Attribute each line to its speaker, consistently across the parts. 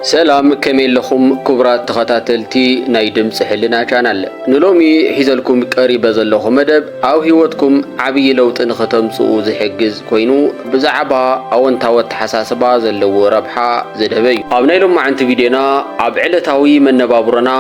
Speaker 1: ሰላም ከመይ ኣለኹም ክቡራት ተኸታተልቲ ናይ ድምፂ ሕልና ቻናል ንሎሚ ሒዘልኩም ቀሪበ ዘለኹ መደብ ኣብ ህይወትኩም ዓብዪ ለውጢ ንኸተምፅኡ ዝሕግዝ ኮይኑ ብዛዕባ ኣወንታዊ ኣተሓሳስባ ዘለዎ ረብሓ ዘድሀበ እዩ ኣብ ናይ ሎማዕንቲ ቪድዮና ኣብ ዕለታዊ መነባብሮና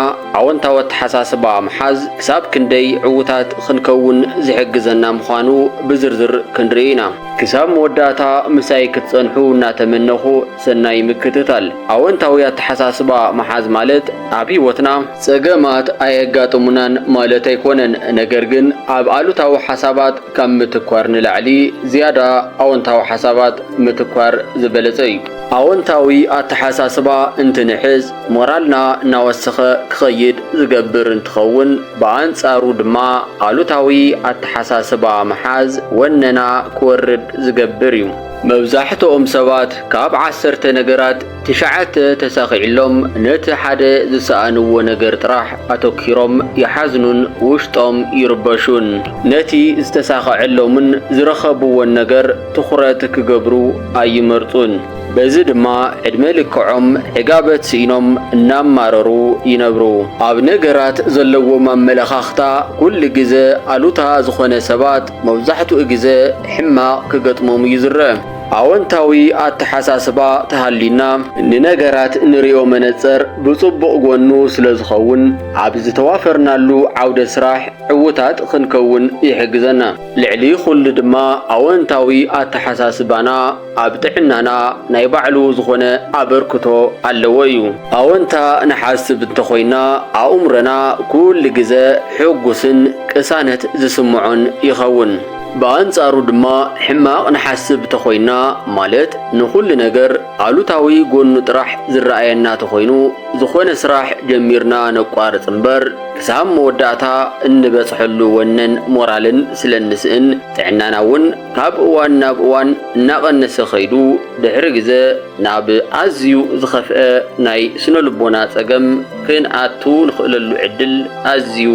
Speaker 1: ኣወንታዊ ኣተሓሳስባ ምሓዝ ክሳብ ክንደይ ዕውታት ኽንከውን ዝሕግዘና ምዃኑ ብዝርዝር ክንርኢ ኢና ክሳብ መወዳእታ ምሳይ ክትፀንሑ እናተመነኹ ሰናይ ምክትታል። ኣወንታዊ ኣተሓሳስባ ምሓዝ ማለት ኣብ ህይወትና ጸገማት ኣየጋጥሙናን ማለት ኣይኮነን፣ ነገር ግን ኣብ ኣሉታዊ ሓሳባት ካብ ምትኳር ንላዕሊ ዝያዳ ኣወንታዊ ሓሳባት ምትኳር ዝበለጸ እዩ። ኣወንታዊ ኣተሓሳስባ እንትንሕዝ ሞራልና እናወሰኸ ክኸይድ ዝገብር እንትኸውን ብኣንጻሩ ድማ ኣሉታዊ ኣተሓሳስባ ምሓዝ ወነና ክወርድ ዝገብር እዩ። መብዛሕትኦም ሰባት ካብ ዓሰርተ ነገራት ትሽዓተ ተሳኺዕሎም ነቲ ሓደ ዝሰኣንዎ ነገር ጥራሕ ኣተኲሮም ይሓዝኑን ውሽጦም ይርበሹን። ነቲ ዝተሳኸዐሎምን ዝረኸብዎን ነገር ትኹረት ክገብሩ ኣይመርጹን። በዚ ድማ ዕድመ ልክዖም ዕጋበት ስኢኖም እናማረሩ ይነብሩ። ኣብ ነገራት ዘለዎም ኣመለኻኽታ ኩሉ ግዘ ኣሉታ ዝኾነ ሰባት፣ መብዛሕትኡ ግዘ ሕማቕ ክገጥሞም እዩ ዝረእ። ኣወንታዊ ኣተሓሳስባ ተሃልዩና ንነገራት ንሪኦ መነፀር ብፅቡቕ ጎኑ ስለዝኸውን ኣብ ዝተዋፈርናሉ ዓውደ ስራሕ ዕውታት ኽንከውን ይሕግዘና። ልዕሊ ኹሉ ድማ ኣወንታዊ ኣተሓሳስባና ኣብ ጥዕናና ናይ ባዕሉ ዝኾነ ኣበርክቶ ኣለዎ እዩ። ኣወንታ ንሓስብ እንተኾይና ኣእምሮና ኩሉ ግዘ ሕጉስን ቅሳነት ዝስምዖን ይኸውን። ብኣንፃሩ ድማ ሕማቕ ንሓስብ ተኾይና ማለት ንኹሉ ነገር ኣሉታዊ ጎኑ ጥራሕ ዝረኣየና ተኾይኑ ዝኾነ ስራሕ ጀሚርና ነቋርፅ እምበር ክሳብ መወዳእታ እንበፅሐሉ ወነን ሞራልን ስለንስእን ጥዕናና እውን ካብ እዋን ናብ እዋን እናቐነሰ ኸይዱ ድሕሪ ግዘ ናብ ኣዝዩ ዝኸፍአ ናይ ስነ ልቦና ጸገም ክንኣቱ ንኽእለሉ ዕድል ኣዝዩ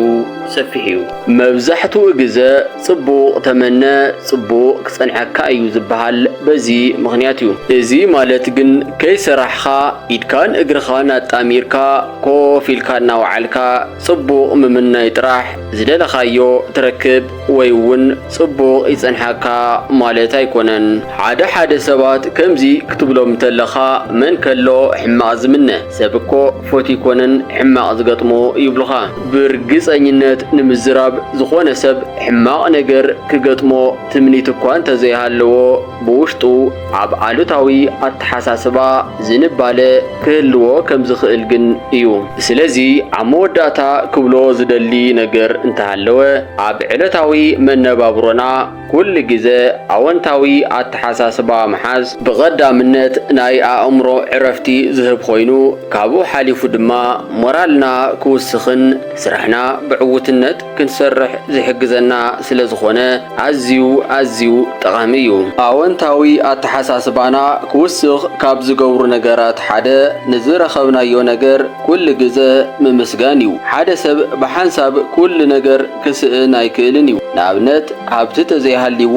Speaker 1: ሰፊሕ እዩ። መብዛሕትኡ ግዘ ጽቡቕ ተመነ ጽቡቕ ክጸንሐካ እዩ ዝበሃል በዚ ምኽንያት እዩ። እዚ ማለት ግን ከይሰራሕኻ ኢድካን እግርኻን ኣጣሚርካ ኮፍ ኢልካ እናወዓልካ ጽቡቕ ምምናይ ጥራሕ ዝደለኻዮ ትረክብ ወይ እውን ጽቡቕ ይጸንሓካ ማለት ኣይኮነን። ሓደ ሓደ ሰባት ከምዚ ክትብሎም እንተለኻ መን ከሎ ሕማቕ ዝምነ? ሰብ እኮ ፎት ይኮነን ሕማቕ ዝገጥሞ ይብሉኻ። ብርግጸኝነት ንምዝራብ ዝኾነ ሰብ ሕማቕ ነገር ክገጥሞ ትምኒት እኳ እንተዘይሃለዎ፣ ብውሽጡ ኣብ ኣሉታዊ ኣተሓሳስባ ዝንባለ ክህልዎ ከም ዝኽእል ግን እዩ። ስለዚ ኣብ መወዳእታ ክብሎ ዝደሊ ነገር እንተሃለወ ኣብ ዕለታዊ መነባብሮና ኩሉ ግዘ ኣወንታዊ ኣተሓሳስባ ምሓዝ ብቐዳምነት ናይ ኣእምሮ ዕረፍቲ ዝህብ ኾይኑ ካብኡ ሓሊፉ ድማ ሞራልና ክውስኽን ስራሕና ብዕውትነት ክንሰርሕ ዝሕግዘና ስለ ዝኾነ ኣዝዩ ኣዝዩ ጠቓሚ እዩ። ኣወንታዊ ኣተሓሳስባና ክውስኽ ካብ ዝገብሩ ነገራት ሓደ ንዝረኸብናዮ ነገር ኩሉ ግዘ ምምስጋን እዩ። ሓደ ሰብ ብሓንሳብ ኩሉ ነገር ክስእን ኣይክእልን እዩ። ንኣብነት ሃብቲ ተዘይሃልይዎ፣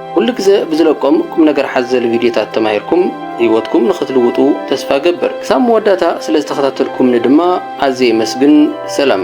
Speaker 1: ኩሉ ግዘ ብዝለቆም ቁምነገር ሓዘል ቪድዮታት ተማሂርኩም ህይወትኩም ንኽትልውጡ ተስፋ እገብር። ክሳብ መወዳእታ ስለዝተኸታተልኩምኒ ድማ ኣዝየ የመስግን። ሰላም!